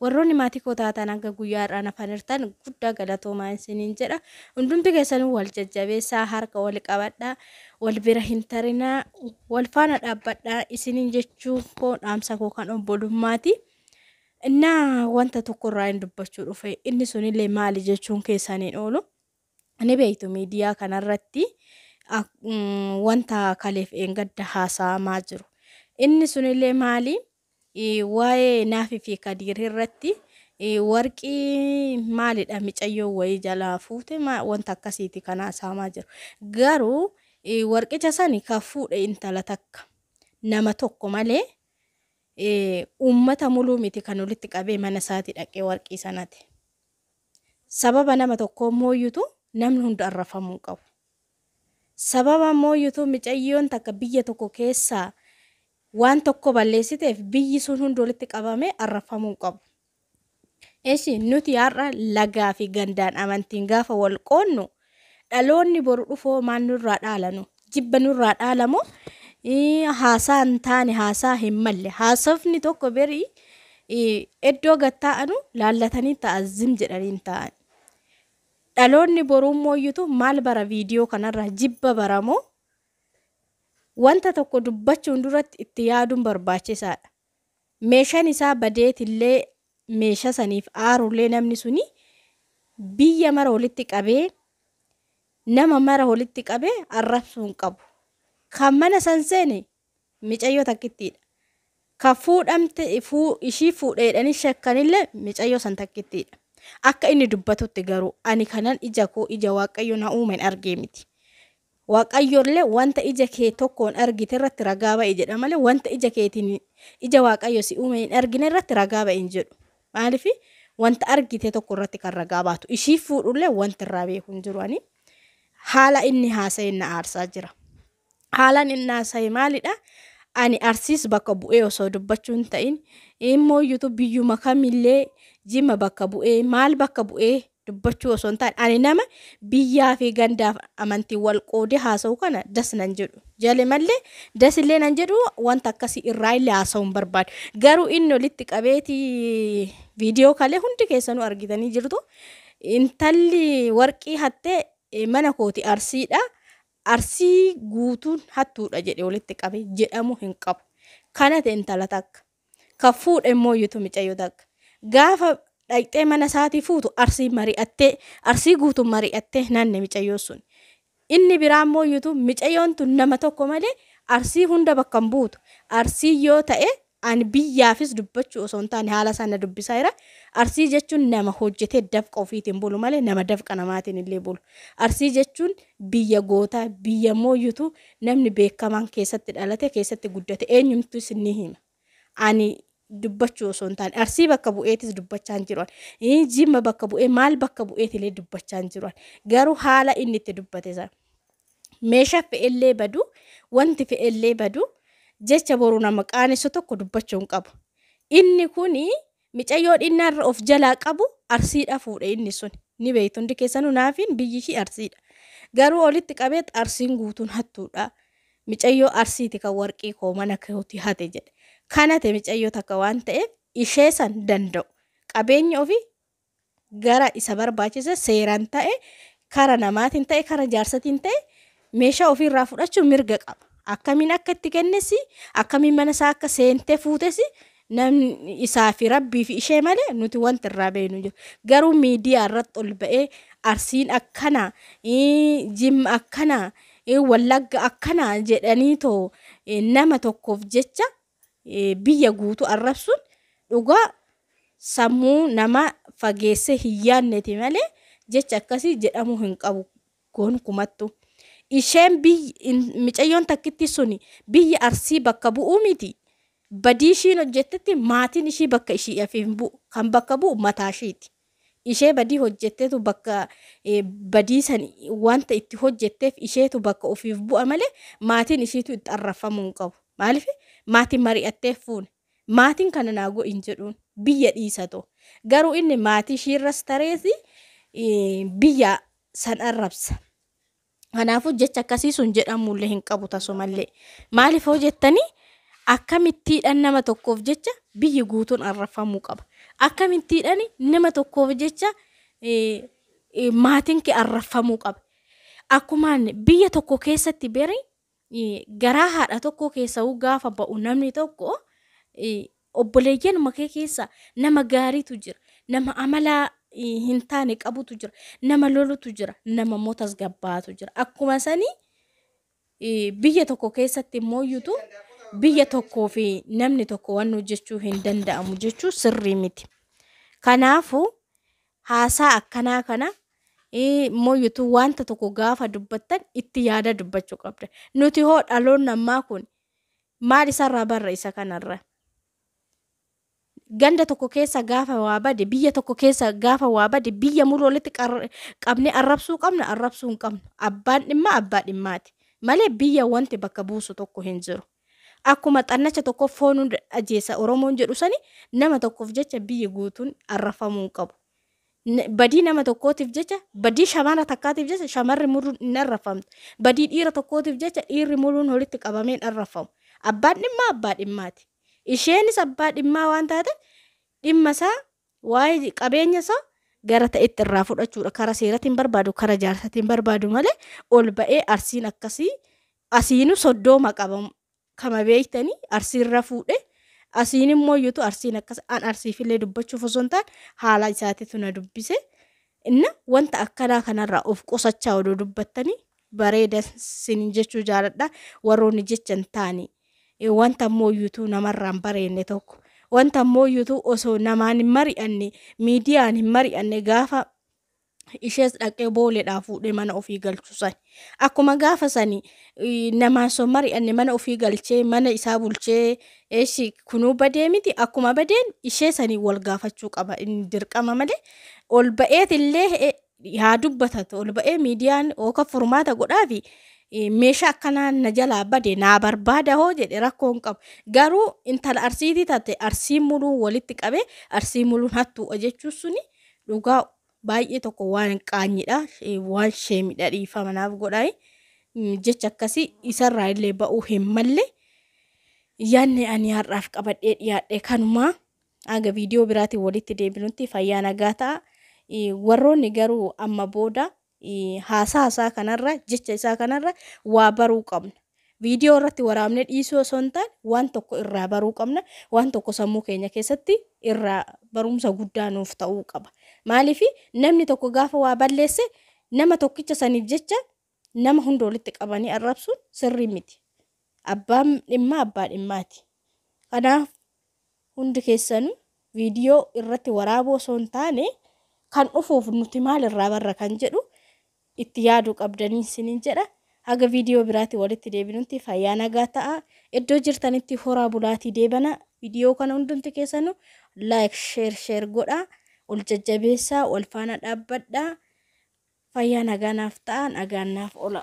Warroonni maatii koo taatan hanga guyyaa har'aan hafanirtan guddaa galatoomaa isiniin jedha. Hundumti keessanuu wal jajjabeessaa, harka wal qabadhaa, wal bira hin tarinaa, wal faana dhaabbadhaa isiniin jechuun koo dhaamsa koo kan obbolummaati. Innaa wanta tokkorraa hin dubbachuu dhufe inni sunillee maali jechuun keessan hin oolu. Ni beektu miidiyaa kanarratti wanta kaleef eengadda haasa'amaa jiru. Inni sunillee maali? Waa'ee Naaf fi Kadiir irratti warqii maalidha micayyoo wayii jalaa fuute ma- wanta akkasiiti kan haasa'amaa jiru. Garuu eh, warqicha sani kan fuudhe intala takka nama tokko malee eh, uummata muluu miti kan walitti qabee mana isaati dhaqee warqii sanati. Sababa nama tokkoo mooyyutu namni hunda arrafamuu hin qabu. Sababa mooyyutu micayyoon takka biyya tokko keessaa waan tokko balleessiteef biyyi sun hundi walitti qabamee arrabfamuu hin qabu. Eshi nuti har'a lagaa fi gandaan amantiin gaafa wal qoodnu dhaloonni boru dhufoo maal nurraa dhaalanu jibba nurraa dhaalamoo ii, haasaa hin taane haasaa hin malle haasofni tokko berii ii, iddoo gad taa'anu laallatanii ta'a zim jedhanii hin taa'an. Dhaloonni boruu mooyyutu maal bara viidiyoo kanarraa jibba baramoo Wanta tokko dubbachuun duratti itti yaaduun barbaachisaadha. Meeshan isaa badeetillee meesha saniif aarullee namni suni biyya mara walitti qabee nama mara walitti qabee arrabsuu hin qabu. Kan mana san seene micayyoo takkittiidha. Kan fuudhamte fuu, ishii fuudheedhanii shakkanillee micayyoo san takkittiidha. Akka inni dubbatutti garuu ani kanan ija koo ija waaqayyo na uumen argee miti. Waaqayyollee wanta ija kee tokkoon argite irratti ragaa ba'i jedha malee wanta ija keetiin ija Waaqayyo si uume hin argine irratti ragaa ba'i hin jedhu. Maaliif wanta argite tokko irratti kan ragaa baatu ishii fuudhullee wanti irraa beeku hin jiru ani haala inni haasa'e na aarsaa jira. Haalaan inni haasa'e maalidha? Ani arsiis bakka bu'ee osoo dubbachuu hin ta'in immoo yuutuubiyyuma kamillee jimma bakka bu'ee maal bakka bu'ee dubbachuu osoo hin taane ani nama biyyaa fi gandaaf amantiin wal qoodee haasa'u kana das nan jedhu jale mallee das illee nan jedhu wanta akkasii irraa illee haasa'u hin barbaadu garuu inni olitti qabeeti viidiyoo kalee hundi keessanuu argitanii jirtu intalli warqii hattee eh, mana kooti arsiidha arsii guutuun hattuudha jedhe walitti qabe jedhamu hin qabu kana ta'e intala takka Kan fuudhe immoo yutu micayyoo dag. Gaafa dhaqxee mana isaatii fuutu arsii mari'attee arsii guutu mari'attee nanne micayyoo sun. Inni biraa immoo yutu micayyoon tun nama tokko malee arsii hunda bakka hin buutu. Arsii yoo ta'e ani biyyaafis dubbachuu osoo hin taane haala isaa na dubbisaa jira. Arsii jechuun nama hojjetee dafqa ofiitiin bulu malee nama dafqa namaatiin illee bulu. Arsii jechuun Biyya gootaa, biyya mooyutu namni beekamaan keessatti dhalate, keessatti guddate eenyumtuu isin ni hima. Ani dubbachuu osoo hin taane Arsii bakka bu'eetis dubbachaan jiru an. Ii, Jimma bakka bu'ee maal bakka bu'eetilee dubbachaan jiru an. Garuu haala inni itti dubbate sana. Meeshaa fe'ellee badu, wanti fe'ellee badu, jecha boru nama qaanessu tokko dubbachuu hin qabu. Inni kuni Micayyoo dhinnaarra of jalaa qabu Arsiidha fuudhe inni sun. Ni beektu hundi keessanuu Naafiin biyyi ishii Arsiidha. Garuu olitti qabeet Arsiin guutuun hattuudha. Micayyoo Arsiiti kan warqii koo mana kootii hate jedhe. Kan hate micayyoo takka waan ta'eef ishee san danda'u. Qabeenya ofii gara isa barbaachise seeran ta'e kara namaatiin ta'e kara jaarsatiin ta'e meeshaa ofii irraa fudhachuun mirga qaba akkamiin akka itti kennesi akkamiin mana isaa akka seentee fuutesi namni isaa fi rabbii fi ishee malee nuti wanti irraa beeknu jiru garuu miidiyaa irratti ol ba'ee arsiin akkana jimma akkana wallagga akkana jedhanii too nama tokkoof jecha biyya guutu arrabsuun dhugaa sammuu nama fageessee hin yaadneti malee jecha akkasii jedhamuu hin qabu gonkumattu. Isheen micayyoon takkitti suni biyya arsii bakka bu'uu miti. Badii ishiin hojjettetti maatiin ishii bakka ishii hin bu'u. Kan bakka bu'u mataa ishiiti. Ishee badii hojjettetu bakka badii san wanta itti hojjetteef isheetu bakka ofiif bu'a malee maatiin ishiitu itti arrafamuu hin qabu. Maaliif maatiin mari'attee fuune. Maatiin kana naa godhi hin jedhuun biyya dhiisatu. Garuu inni maatii ishiirras tareeti biyya san arrabsa. Kanaafuu jecha akkasii sun jedhamuullee hin qabu tasumallee. Maaliif hoo jettanii akkamittiidhaan nama tokkoof jecha biyyi guutuun arrafamuu qaba. Akkamittiidhaan nama tokkoof jecha maatiin kee arrafamuu qaba. Akkumaan biyya tokko keessatti beri garaa haadha tokkoo keessa'uu gaafa ba'u namni tokko obboleeyyan makee keessa nama gaariitu jira nama amala hin taane qabutu jira nama lolutu jira nama immoo tasgabbaa'atu jira akkuma sanii biyya tokko keessatti immoo iyyutu biyya tokkoo fi namni tokko waan hojjechuu hin danda'amu jechuu sirrii miti kanaafuu Haasaa akkanaa kana immoo utuu wanta tokko gaafa dubbattan itti yaadaa dubbachuu qabda. Nuti hoo dhaloonni ammaa kun maal isarraa barra isa kanarra? Ganda tokko keessa gaafa waa bade, biyya tokko keessa gaafa waa bade, biyya mulu walitti qar- qabnee arrabsuu qabna, arrabsuu hin qabnu. Abbaan dhimmaa abbaa dhimmaati. Malee biyya wanti bakka buusu tokko hin jiru. Akkuma xannacha tokkoof foon hunda ajjeesa Oromoon jedhu sani nama tokkoof jecha biyyi guutuun arrafamuu hin qabu. Badii nama tokkootiif jecha badii shamara takkaatiif jecha shamarri muruun hin arrafamtu. Badii dhiira tokkootiif jecha dhiirri muruun walitti qabamee hin arrafamu. Abbaan dhimmaa abbaa dhimmaati. Isheenis abbaa dhimmaa waan taateef dhimma isaa waa'ee qabeenya isaa gara ta'etti irraa fudhachuudha. Kara seeratiin barbaadu kara jaarsatiin barbaadu malee ol ba'ee arsiin akkasii Asiinu soddooma qaba kama beektani arsiirra fuudhe asiin immoo iyyutu arsiin akkas an arsiifillee dubbachuuf osoo hin taane haala isaatitu na dubbise inna wanta akkanaa kanarraa of qusachaa odoo dubbattanii bareeda sinin jechuu jaaladha warroonni jecha hin taane Eh, wanta immoo iyyutu namarraan bareenne tokko wanta immoo iyyutu osoo namaan hin mari'anne miidiyaan hin mari'anne gaafa ishees dhaqee booleedhaa fuudhee mana ofii galchu sani. Akkuma gaafa sani eh, namaan son mari'anne mana ofii galchee mana isaa bulchee eeshi kunuu badee miti akkuma badeen ishee sanii wal gaafachuu qaba inni dirqama malee ol ba'eet illee eh, haa dubbatatu ol ba'ee miidiyaan ooka furmaata godhaafi eh, meeshaa akkanaa na jalaa bade naa barbaada hoo jedhe rakkoo hin qabu garuu intala arsiitii taate arsiin muluu walitti qabee arsii muluun hattuudha jechuun suni Dhugaa baay'ee tokko waan qaanyidha waan sheemidha dhiifama naaf godhaayi jecha akkasii isarraa illee ba'uu hin malle yaanni ani har'aaf qabadhee dhiyaadhe kanumaa haga viidiyoo biraatiin walitti deebinutti fayyaa nagaa ta'a warroonni garuu amma booda Haasaa isaa kanarra, jecha isaa kanarra waa baruu qabna. Viidiyoo irratti waraabnee dhiisuu osoo hin taane waan tokko irraa baruu qabna. Waan tokko sammuu keenya keessatti irraa barumsa guddaa nuuf ta'uu qaba. Maaliif namni tokko gaafa waa balleesse nama tokkicha saniif jecha nama hunda walitti qabanii arrabsuun sirrii miti. Abbaan dhimmaa abbaa dhimmaati. Kanaaf hundi keessanuu viidiyoo irratti waraabuu osoo hin taane kan dhufuuf nuti maal irraa barra kan jedhu itti yaaduu qabdanii isiniin jedha. Haga viidiyoo biraati walitti deebinutti fayyaa nagaa ta'a. Iddoo jirtanitti horaa bulaatii deebana. Viidiyoo kana hundumti keessanuu like share share godhaa. Ol jajjabeessaa wal faana dhaabbadhaa. Fayyaa nagaa naaf ta'a nagaan naaf ola.